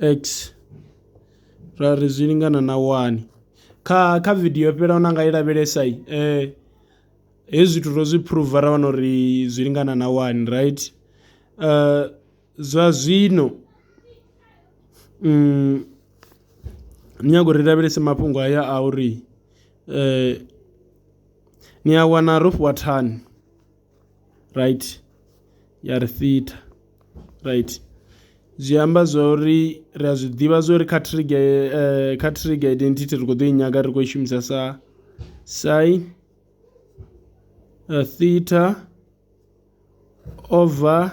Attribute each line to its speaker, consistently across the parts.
Speaker 1: X ra ri zwi lingana na wani kha kha vidio yo fhelaho na nga i lavhelesa hezwi zwithu ro zwi phuruva ra wana uri zwi lingana na wani right. Zwa zwino ni nyaga uri ri lavhelese mafhungo haya a uri ni a wana ro fhiwa thani. right ya ri fitha right zwi amba zwa uri ri a zwi ḓivha zwa uri kha trigger eh, kha trigger identity ri khou ḓo i nyaga ri khou i shumisa sa sin eh, theta over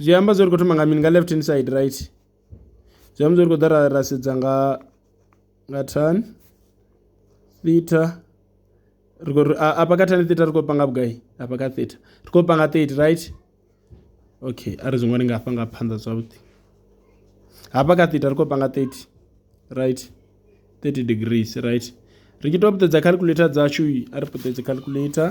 Speaker 1: Zwi amba zwori ri kho thoma nga mini nga left hand side right zwi amba zwori ri kho ḓa ra ra sedza nga nga tan theta ri khou ri afha kha tan theta ri khou panga vhugai afha kha theta ri khou panga thirty right okay a ri zwi ṅwali nga afha nga phanḓa zwavhuḓi hafha kha theta ri khou panga thirty right thirty degrees right ri tshi to puṱedza calculator dzashu a ri puṱedze calculator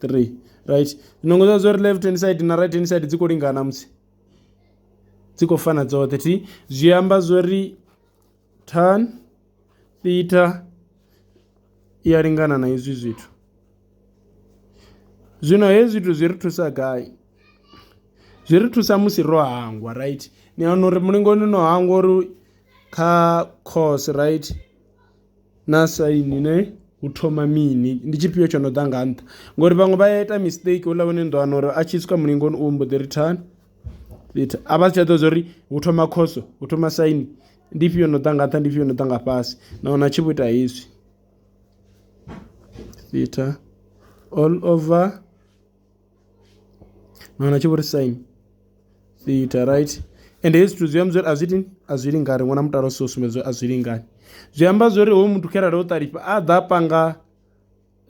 Speaker 1: 3 right zwinongo zwa zwo ri left hand side na right hand side dzi khou lingana musi dzi khou fana dzoṱhe thi zwi amba zwo ri tan theta i a lingana na izwi zwithu zwino hezwi zwithu zwi ri thusa gai zwi ri thusa musi ro hangwa right ni wana uri mulingoni no hangwa uri kha cos right Naa saini ne hu thoma mini ndi tshifhio tsho no ḓa nga nṱha ngori vhaṅwe vha ya ita mistake houḽa hune ni ḓo wana uri a tshi swika mulingoni u mbo ḓi ri thana a vha si tsha ḓivha zwa uri hu thoma khoso hu thoma saini ndi ifhio yo no ḓa nga nṱha ndi ifhio yo no ḓa nga fhasi na wana a tshi vho ita hezwi theta all over. Ni wana a tshi vho ri sign theta right ende hezwi zwithu zwi amba zwori a zwi iti a zwi lingani ri vhona mutala u so sumbedza uri a zwi lingani zwi amba zwori hoyu muthu kharali o ṱalifha a ḓa a panga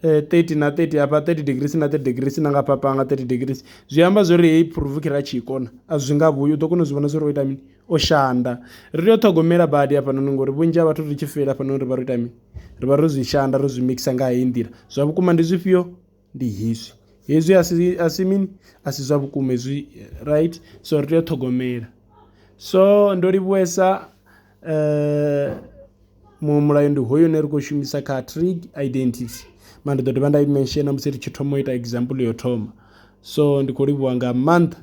Speaker 1: thirty na thirty hafha thirty degrees na thirty degrees na nga hafha panga thirty degrees zwi amba zwori heyi phuruvu kha ra tshi i kona a zwi nga vhuyi u ḓo kona u zwi vhona zwori o ita mini o shanda. Ri tea u ṱhogomela badi hafhanoni ngori vhunzhi ha vhathu ri tshi feila hafhanoni ri vha ro ita mini ri vha ro zwi shanda ro zwi mikisa nga heyi nḓila zwa vhukuma ndi zwifhio. ndi hezwi hezwi a si a si mini a si zwa vhukuma hezwi right so ri tea u ṱhogomela so ndo livhuwesa um muṅwe mulayo ndi hoyo une ri khou shumisa kha trig identity ma ndi ḓo dovha nda i menshena musi ri tshi thoma u ita example yo thoma so ndi khou livhuwa nga maanḓa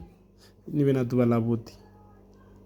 Speaker 1: ni vhe na ḓuvha ḽavhuḓi